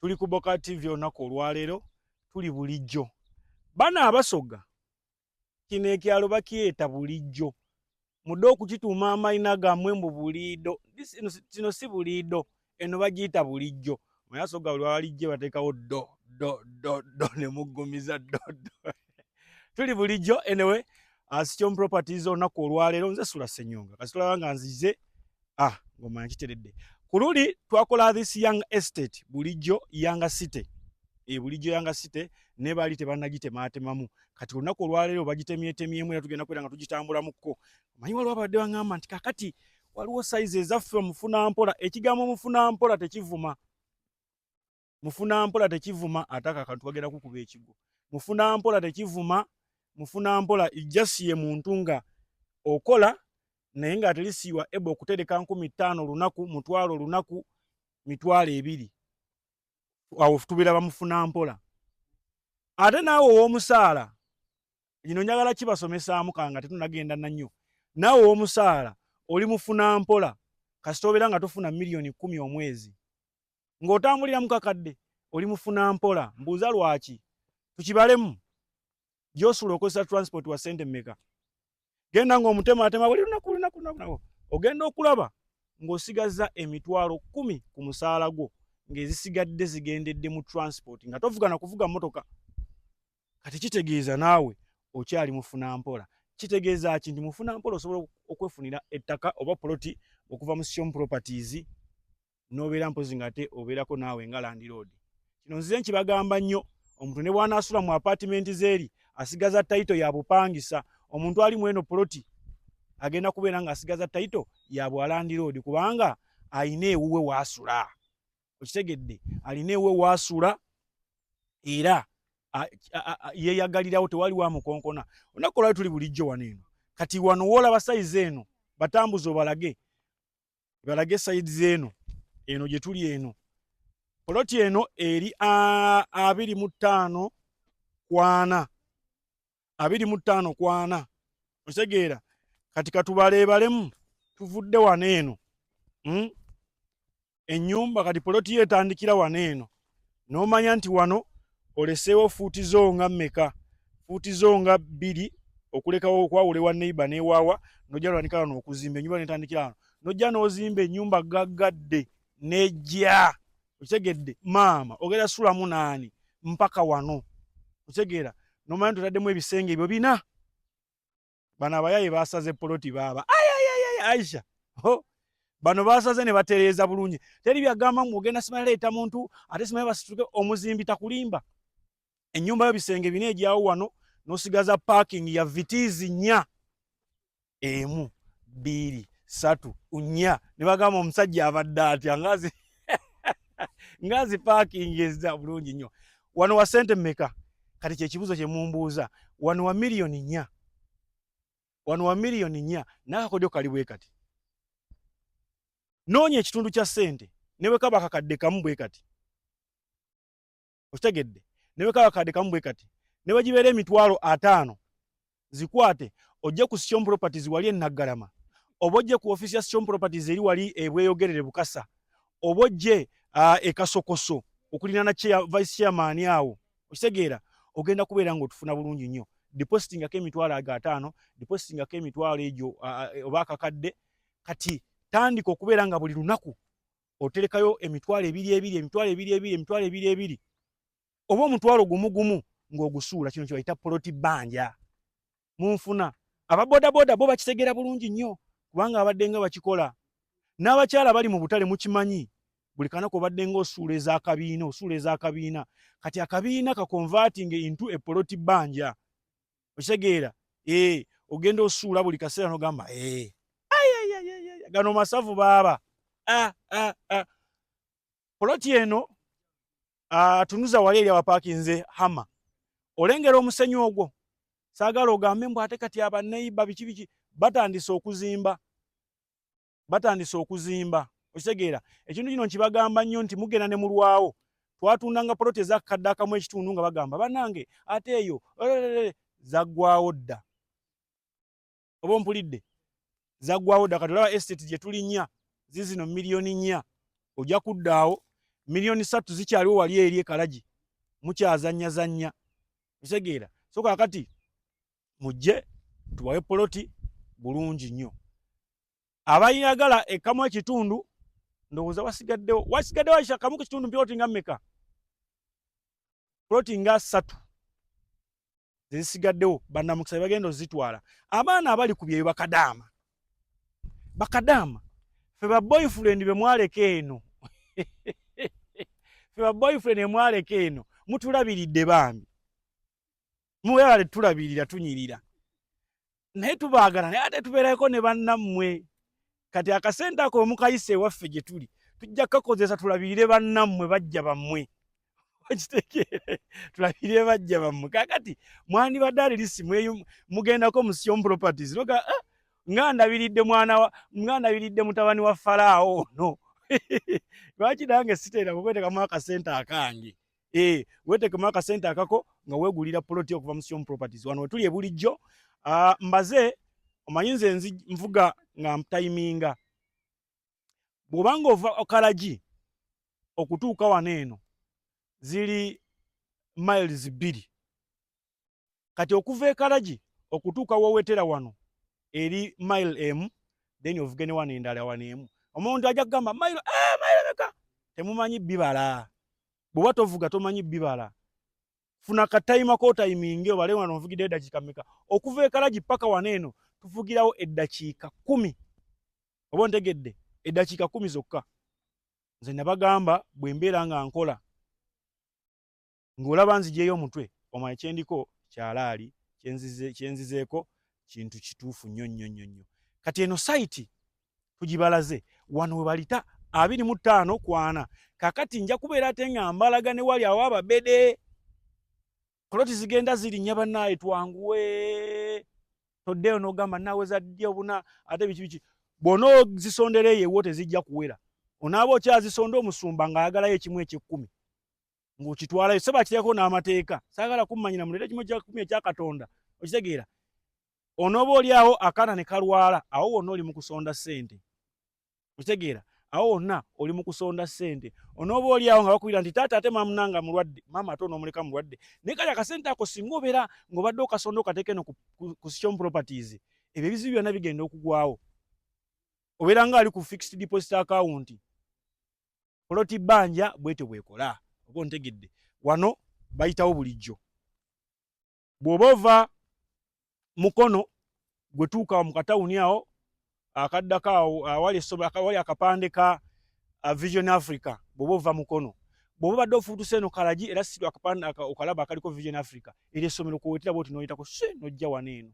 tuli ku boka tv olunaku olwaleero tuli bulijjo bana abasoga kino ekyalo bakyeta bulijjo mudde okukituuma amayina gamwe mbu buliido kino si buliido eno bagiyita bulijjo mwe asoga buli walijje bateekawo do do do do ne muggumiza do do tuli bulijjo enewe asityom properties olunaku olwaleero nze sula senyonga kasitulaba nga nzize ah ngoma nkiteredde kululi twakola this young estate bulijjo yanga city e bulijjo yanga city ne bali tebanagitemaatemamu kati olunaku olwaleero bagitemyetemyemu era tugenda kwera nga tugitambulamuko manyi waliwo abadde baŋamba nti kakati waliwo sayizi ezaffe omufunampola ekigambo omufunampola tekivuma mufuna mpola tekivuma ataka kantu wagenda kukuba ekigo mufuna mpola tekivuma mufuna mpola just ye muntu nga okola naye nga atalisiwa ebo okutereka nkumi ttaano lunaku mutwalo lunaku mitwalo ebiri awo tubira bamufuna mpola ate naawe owomusaala ino njagala kibasomesaamu kanga tetunagenda nanyo naawe owomusaala oli mufuna mpola kasita obeera nga tufuna miliyoni kumi omwezi ng'otambulira mu kakadde oli mufuna mpola mbuuza lwaki tukibalemu gyosula okozesa transport wa sente meka genda ng'omutema atema buli lunaku lunaku lunaku ogenda okulaba ng'osigaza emitwalo kumi ku musaala gwo ng'ezisigadde zigendedde mu transport nga tovugana kuvuga mmotoka kati kitegeeza naawe okyali mufuna mpola kitegeeza ki nti mufuna mpola osobola okwefunira ettaka oba poloti okuva mu sion properties nobeera mpozi nga ate obeerako naawe nga landiroodi kino nzize nkibagamba nnyo omuntu ne bwanaasula mu apatimenti zeeri asigaza tayito ya bupangisa omuntu ali mweno poloti agenda kubeera nga asigaza tayito ya bwalandiroodi kubanga alina ewuwe waasula okitegedde alina ewuwe waasula era yeyagalirawo tewali wa mukonkona olunaku olwali tuli bulijjo wano eno kati wano woolaba sayizi eno batambuza obalage balage side zeno eno gye tuli eno poloti eno eri abiri mu ttaano kwana abiri mu ttaano kwana otegeera kati katubaleebalemu tuvudde wano eno hmm? ennyumba kati poloti yo etandikira wano eno n'omanya nti wano oleseewo fuuti zo nga mmeka fuuti zo nga bbiri okulekawo okwawula ewa neiba newaawa nojja notandika wano okuzimba enyumba netandikira wano nojja n'ozimba ennyumba gaggadde nejja okitegedde maama ogenda sulamu naani mpaka wano okitegeera nomanya nti otaddemu ebisenge ebyo bina bano abayaye basaze poloti baaba aisha ho bano basaze ne batereeza bulungi teri byagamba mu ogenda simanya leeta muntu ate simanya basituke omuzimbi takulimba ennyumba yo bisenge bina egyawo wano nosigaza parking ya vitiizi nya emu bbiri satu nya ne bagamba omusajja abadde atya ngazi ngazi parking ezza bulungi nnyo wano wa sente meka kati kyekibuzo kyemumbuuza wano wa miliyoni nya wano wa miliyoni nya nakakodyo kali bwe kati noonya ekitundu kya sente newe kaba kakadde kamu bwe kati okitegedde newe kaba kakadde kamu bwe kati newegibeera emitwalo ataano zikwate ojje ku Sichom Properties wali enaggalama oba ojje ku office ya Sichom Properties eri wali ebweyogerere bukasa oba ojje uh, ekasokoso okulina na chair, vice chairman awo okitegeera ogenda kubeera nga otufuna bulungi nnyo depositing ako emitwalo ago ataano depositing ako emitwalo egyo uh, oba akakadde kati tandika okubeera nga buli lunaku oterekayo emitwalo ebiri ebiri emitwalo ebiri ebiri emitwalo ebiri ebiri oba omutwalo gumu gumu ng'ogusuula kino kyebayita poloti bbanja munfuna ababodaboda bo bakitegeera bulungi nnyo kubanga abadde nga bakikola n'abakyala bali mu butale mukimanyi buli kanaku obadde nga osuula ezakabiina osuula ezakabiina kati akabiina kakonvatinga intu epoloti bbanja okitegeera ee eh, ogenda osuula buli kaseera nogamba ee eh, gano masavu baaba ah, ah, ah. poloti eno uh, tunuza wali eri abapakinze hama olengera omusenyi ogwo sagala ogambe mbu ate kati abaneiba biki biki batandise okuzimba batandise okuzimba okitegeera ekintu kino nkibagamba nnyo nti mugenda ne mulwawo twatundanga poloti ezakadde akamu ekitundu nga bagamba banange ate eyo zaggwawo dda oba ompulidde zaggwawo dda kati olaba estate gye tulinya zizino miliyoni nnya ojja kuddaawo miliyoni ssatu zikyaliwo wali eri ekalagi mukyazanyazannya otegeera so kakati mujje tubawe poloti bulungi nnyo abayagala ekamu ekitundu ndowooza wasigaddewo wasigaddewo akikamu ku kitundu mpoloti nga mmeka poloti nga ssatu zezisigaddewo banamukisa bagenda ozitwala abaana abali ku byeyo bakadaama bakadaama fe ba boyfriend be mwaleka eno fe ba boyfriend be mwaleka eno mutulabiridde bambi mubebale tulabirira tunyirira naye tubaagala naye ate tubeerayoko ne bannammwe kati akasente ako wemukayisa ewaffe gye tuli tujja kukakozesa tulabirire bannammwe bajja bammwe okitegeere tulabirire bajja bammwe kakati mwandibadde alirisi mugendako musion properties noga ah, nga ndabiridde mwana nga ndabiridde mutabani wa falaawo ono lwaki nange siteera kukwetekamu akasente akange Eh, wetekemu akasente akako nga wegulira poloti okuva mu Sion Properties. Wano wetuli ebulijjo. Uh, mbaze omanyi nze nzi nvuga nga mtayiminga. Bwobanga ova okalaji okutuuka wano eno ziri miles bbiri kati okuva ekalagi okutuuka wowetera wano eri mile emu then ovuge ne wano endala wano emu omuntu ajja kugamba mile eh, mile meka temumanyi bibala bwewa tovuga tomanyi bibala funa katayima kotayiminge obale wano ovugidde eddakiika meka okuva ekalagi paka wano eno tuvugirawo eddakiika kumi oba ontegedde eddakiika kumi zokka nze nabagamba bwe mbeera nga nkola ng'olaba nzijeeyo omutwe omanya kyendiko kyalaali kyenzizeeko kintu kituufu nnyo nnyo nnyo nnyo kati eno sayiti tugibalaze wano we balita abiri mu ttaano kwana kakati nja kubeera ate nga mbalaga ne wali awo ababede poloti zigenda zirinnya bannaaye twanguwe toddeyo n'ogamba naweza ddi obuna ate biki biki bwona ozisondera eyo ewo tezijja kuwera onaaba okyazisonda omusumba ng'ayagalayo ekimu ekyekkumi ng'okitwalayo sebo akireko n'amateeka saagala kummanyira muleeta ekimu kyakumi ekya katonda okitegeera onooba oli awo akaana ne kalwala awo wonna oli mu kusonda ssente okitegeera awo wonna oli mu kusonda ssente onooba oli awo nga bakubira nti taata ate maamuna nga mulwadde maama ate onoomuleka mulwadde naye kali akasente ako singa obeera ng'obadde okasonda okateeka eno ku sichom properties ebyo ebizibu byonna bigenda okugwawo obeera nga ali ku fixed deposit akawunti poloti bbanja bwetyo bwekola oba ontegedde wano bayitawo bulijjo bw'oba ova mukono gwe tuuka mu katawuni awo akaddako awo awali esobe awali akapande ka vision africa bw'oba ova mukono bw'oba obadde ofuutuse eno kalagi era si akapande okalaba akaliko vision africa era essomero kwewetera bwoti n'oyitako si n'ojja wano eno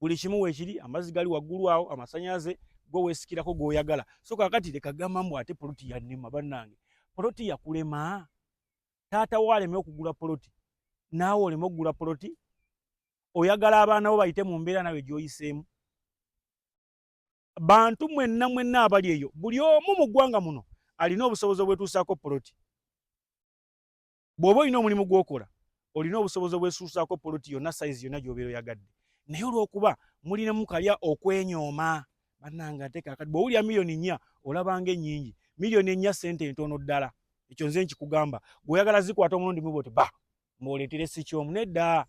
buli kimu wekiri amazi gali waggulu awo amasanyaze gwe wesikirako gwoyagala so kakati leka gamba mbu ate poloti yanema bannange poloti yakulema taata wo aleme okugula poloti naawe oleme okugula poloti oyagala abaana bo bayite mu mbeera nawe gyoyiseemu bantu mwenna mwenna abali eyo buli omu mu ggwanga muno alina obusobozi obwetuusaako poloti bw'oba olina omulimu gw'okola olina obusobozi obwesuusaako poloti yonna sayizi yonna gy'obeera oyagadde naye olw'okuba mulinamu kalya okwenyooma bannange ate kakati bw'owulira miliyoni nnya olabanga ennyingi miliyoni ennya ssente entono ddala ekyo nze nkikugamba gweoyagala zikwata omulundi muba oti ba mwoletere sikyomu nedda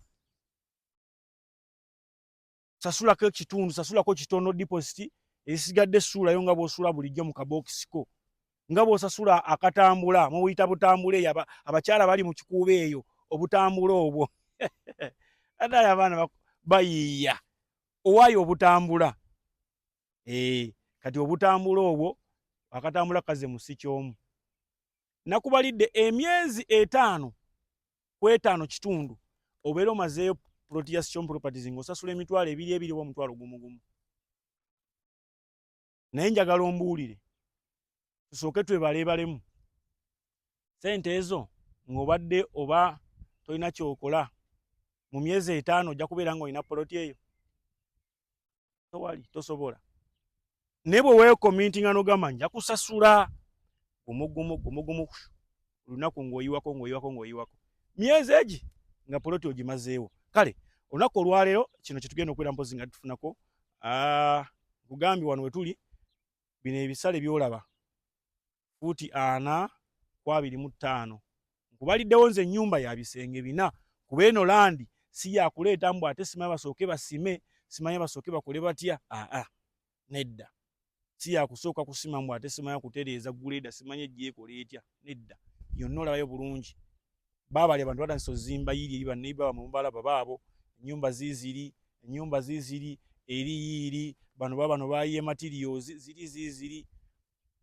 sasulako ekitundu sasulako kitono deposit esigadde suulayo nga bwosula bulijjo mu kabokisiko nga bwosasula akatambula mubuyita butambula eyo abakyala bali mu kikuuba eyo obutambula obwo adala abaana bayiiya owaayo obutambula ee eh, kati obutambula obwo akatambula kaze musi kyomu nakubalidde emyezi etaano ku etaano kitundu obeera omazeeyo ploti ya sicom properties ng'osasula emitwalo ebiri ebiri oba omutwalo gumu gumu naye njagala ombuulire tusooke twebaleebalemu sente ezo ng'obadde oba tolina kyokola mu myezi etaano ojja kubeera ng'olina poloti eyo towali tosobola naye bwe weekomintinga nogamba nja kusasula gumugumu gumugumu olunaku ng'oyiwako ng'oyiwako ng'oyiwako myezi egi nga poloti ogimazeewo kale olunaku olwaleero kino kyetugenda okubeera mpozi nga tufunako ah, nkugambye wano wetuli bino ebisale byolaba fuuti ana ku abiri mu ttaano nkubaliddewo nze ennyumba ya bisenge bina kuba eno landi si yakuleeta mbu ate simanyi basooke basime simanyi basooke bakole batya aa nedda si yakusooka kusima mbu ate simanyi kutereeza guleeda simanyi ejjeekola etya nedda yonna olabayo bulungi baabali abantu batandisa ozimba yiiri eri baneiba bamwe mubalaba baabo enyumba ziziri enyumba ziziri eri yiiri bano babano bayiye materials ziri ziziri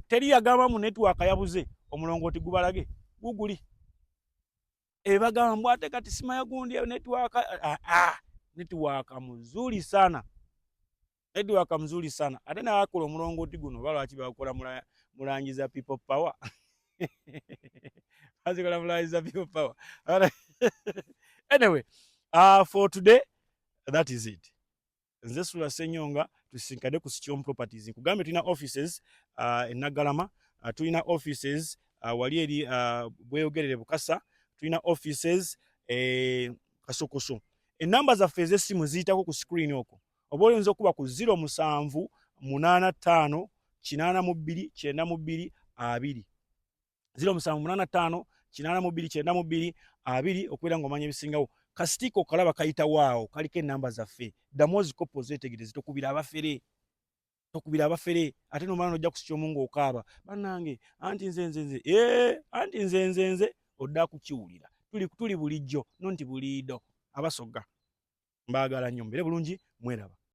teri yagamba mu network yabuze omulongo oti gubalage guguli ebagambwa ate kati sima yagundi network ah, ah, network muzuri sana network muzuri sana ate na akolo omulongo oti guno balo achi bakola mula mulangiza people power azi kola mulangiza people power anyway uh, for today that is it nze sula senyonga tusinkade ku sikiom properties nkugambe tulina offices uh, enagalama uh, tulina offices uh, wali eri uh, bweyogerere bukasa tulina offices e kasokoso enamba zaffe ezesimu ziyitako ku screen oko oba oyinza okuba ku 0 musanvu munana tano kinana mu bbiri kyenda mu bbiri abiri ziro musanvu munana tano kinana mubiri kyenda mubiri abiri okubeera nga omanya ebisingawo kasitiiko okalaba kayita waawo kaliko enamba zaffe ddamu ozikopo zetegereze tokubira abafere tokubira abafere ate nomala nojja kusitya omu ngaokaaba banange anti nze nze nze ee anti nze nze nze odda kukiwulira tuli, tuli bulijjo no nti buliido abasoga mbaagala nnyo mbere bulungi mweraba